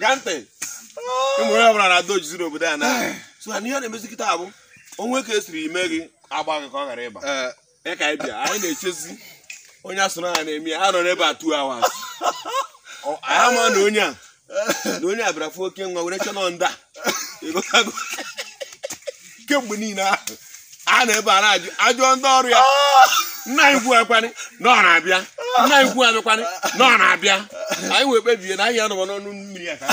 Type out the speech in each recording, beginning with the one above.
ṅaa ntị ụmụ onye ọbụla na-ada ojizi n'obodo a na so na ihe na-emezi kịta bụ o nwee ka e siri ime gị agba gị ka ọ ghara ịba ya ka anyị bịa anyị na-echezi onye asụrụ ha na-eme ya ha nọ n'ebe a two hours Ọ- anyị ama na onye a na onye a bịara fụ oke nwa were chọnọ nda ịghọtago kemgbe niile ahụ a nọ ebe a na-ajụ ajụọ ndị ọrụ ya nna anyị ukwu akwanị na ọ na-abịa nna anyị ukwu abịakwanị na ọ na-abịa anyị wee kpebie na anyị anọba n'ọnụ mmiri a ka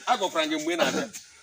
a gwakwara gị mgbe ị na-abịa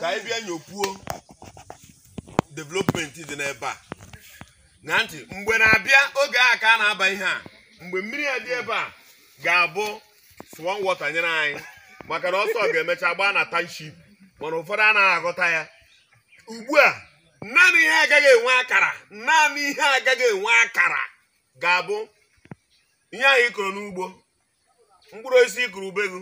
ka anyị bịa nyopuo development dị n'ebe a ṅaa ntị mgbe na-abịa oge a ka a na-aba ihe a mgbe mmiri a dị ebe a ga-abụ swan water nyere anyị maka na ọsọ ga-emecha gbaa na township mana ụfọdụ anaghị aghọta ya ugbu a naanị ihe agaghị enwe akara naanị ihe agaghị enwe akara ga-abụ ihe ahụ ị kụrụ n'ugbo mkpụrụ osisi ị kụrụ ube gị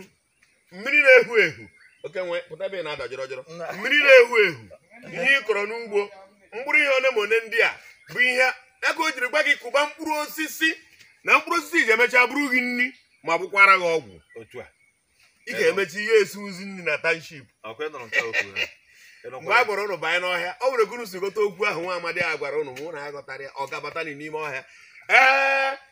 mmiri na-ehu ehu oke nwe pụta ebe ị na-ada jọrọ jọrọ mmiri na-ehu ehu ihe ị kọrọ n'ugbo mkpụrụ ihe one ma one ndị a bụ ihe aka o jiri gwa gị kụba mkpụrụ osisi na mkpụrụ osisi ga-emecha bụrụ gị nri ma bụkwara gị ọgwụ otu a ị ga-emecha ihe esi ozi nri na township ọkwa ị nụrụ nke okwu ya mgbe a gwara ụnụ banye n'ọhịa o nwere gụrụ si ghọta okwu ahụ nwa amadi a gwara ụnụ mụ na ya ghọtara ya ọ gabatani n'ime ọhịa ee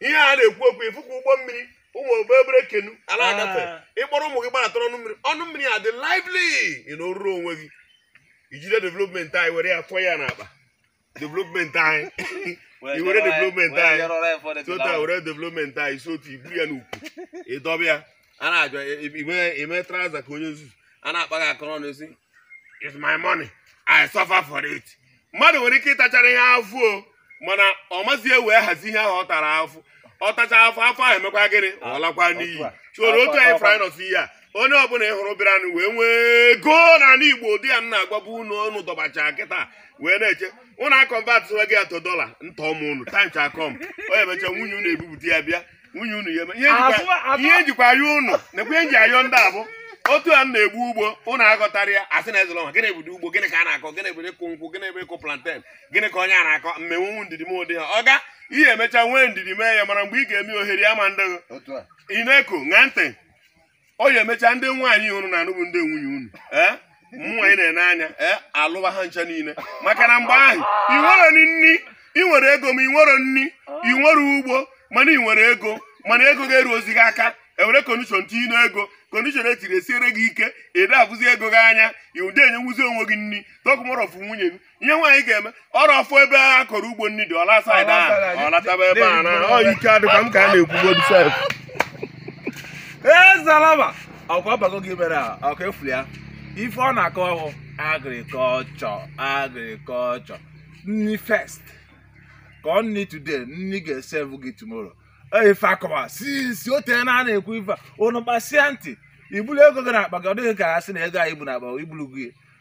ihe a na-ekwu okwu ị fụkwa ụgbọ mmiri ụmụ obere obere kenu a na-agafe ah. ị kpọrọ ụmụ gị gbaratara ọnụ mmiri ọnụ mmiri a dị lively ị nọrụrụ onwe gị i jide development anyị were ya fọọ ya n'akpa development anyị i were development anyị tota were development anyị si otu i buru ya n'ukwu ị dọba ya a na-ajụ ime trouser ka onye nzuzu a na-akpa gị aka n'ọnụ ị sị is my money i suffer for it mmadụ nwere ike ịtachara ihe afụfụ mana ọ mazi ewe hazi ihe ahụ ọ tara afụfụ ọ tacha afụfụ afụfụ ahụ emekwa gịnị ọ lakwa n'iyi chụrụ otu anyị fraịnọs ihe a onye ọbụla ị hụrụ bịaranụ wee nwee ego n'ala igbo ụdị a m na-agwabu unu unu dọbacha kịta wee na-eche ụnụ a-convert ya to dollar ntọ m unu tancha kọm onye mecha nwunye unu ebupụta ya bịa nwunye unu ya eme ihe m jikwa ayọ unu nekwa ihe m ji ayọ ndị a bụ otu a m na-egbu ugbo unu aghọtara ya a sị na ezụlọ nwa gịnị bụdị ugbo gịnị ka a na-akọ gịnị bụ ịkụ nkwụ gịnị bụ ịkụ plantain gịnị ka onye a na-akọ mmenwu nwu ndidi m ụdị ha ọga ị ya-emecha nwee ndidi mee ya mana mgbe ị ga-eme ohere ama adị gị. otu a ị na-eko ṅaa ntị ọ ya-emecha ndị nwaanyị unu na-anụbu ndị nwunye unu ee mụwa ị na-ene anya ee alụba ha ncha niile maka na mgbe ahụ ị nwerọ nni ị nwere ego ma ị nwerọ nni ị nwerọ ugbo mana ị nwere ego mana ego ada-eruzi gị aka e were condition tinye n'ego condition e tinyere esiere gị ike ị da-afụzi ego gị anya ị da-enyenwuzi onwe gị nni talk more of nwunye gị ihe nwaanyị ga-eme ọrụ ọfụ ebe a kọrọ ugbo nri dị ọ laa side ahụ ọ lataba ebe a na ọ ike adịkwa m ka a na-ekwugodi sef ee zalaba ọkwa bago gị mere a ọka efuli ya ife ọ na-akọ ọhụ agriculture agriculture nni first ka ọ nni today nni ga-esevu gị tomorrow Ee, ife akọwa si si o teena a na-ekwu ife a, unu kpasia ntị i bulu ego gị n'akpa gị ọ dịghị ka a sị na ego anyị bu n'akpa i bulu gị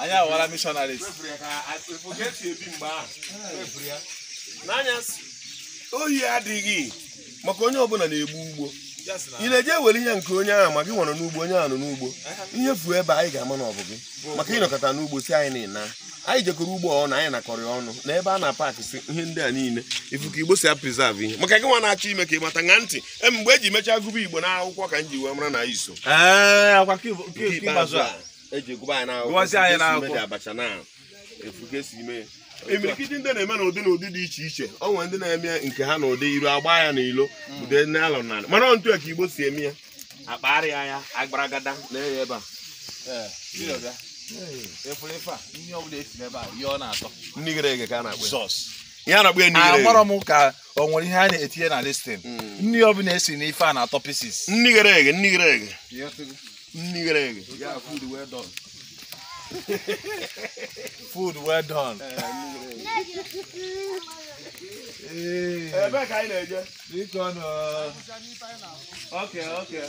anyị awara missionaries ohi adịghị maka onye ọbụla na-egbu ugbo ị na-eje ewere ihe nke onye ahụ ma gị nwere n'ugbo onye ahụ nọ n'ugbo ihe fuo ebe anyị ga-ama na ọ bụ gị maka ịnọkọta n'ugbo si anyị na anyị jekọrọ ugbo ọnụ anyị nakọrọ ya ọnụ na ebe a na-apakịsị ihe ndị a niile ị fụ ka igbo si apreserve ihe maka gị nwa na-achọ ime ka ị mata na until mgbe e ji mechaa gụba igbo n'akwụkwọ ka m ji wee mara na iso ee akwa nke ikpeazụ a e ji gụba anyị n'akwụkwọ Gụwazie anyị ị fụ ka e si n'akwụkwọ. mee abacha na ị fụ ka e si mee imirikiti ndị na-eme n'ụdị na ụdị dị iche iche ọ nwere ndị na-eme nke ha n'ụdị iru agba ya na ilo ụdị n'alọ na mana ọ otu a ka igbo si eme ya akpagharịa ya agbaragada na ya ebe a efere ife a ihe ọbụla e si n'ebe a ihe ọ na-atọ nni ghere eghe ka a na-akpọ ya. Jizọs ya na-akpọ ya nni ghere eghe. amarọ m ka o nwere ihe a na-etinye na this thing nni ọbụla e si n'ife a na-atọ pieces nni ghere eghe nni ghere eghe nni ghere eghe food well done ebe ka anyị na-eje bikonụ okay okay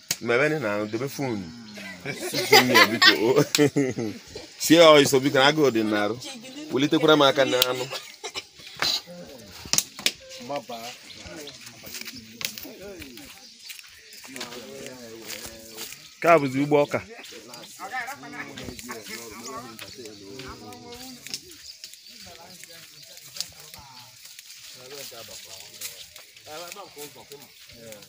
mebe nni na dobe phone sie ọsọ biko na agụụ dị n'arụ welitekwara m aka n'anụ nke a bụzi ugbo ọka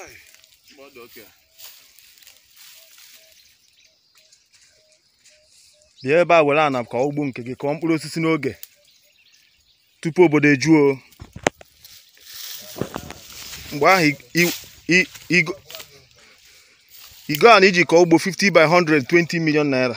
Ai, mgbe ọ dị okay. bịa ebe a were ana kọọ ugbo nke gị kọọ mkpụrụ osisi n'oge tupu obodo ejuo o. mgbe ahụ i- i- i- igo igo ana iji kọọ ugbo 50 by 100 20 million naira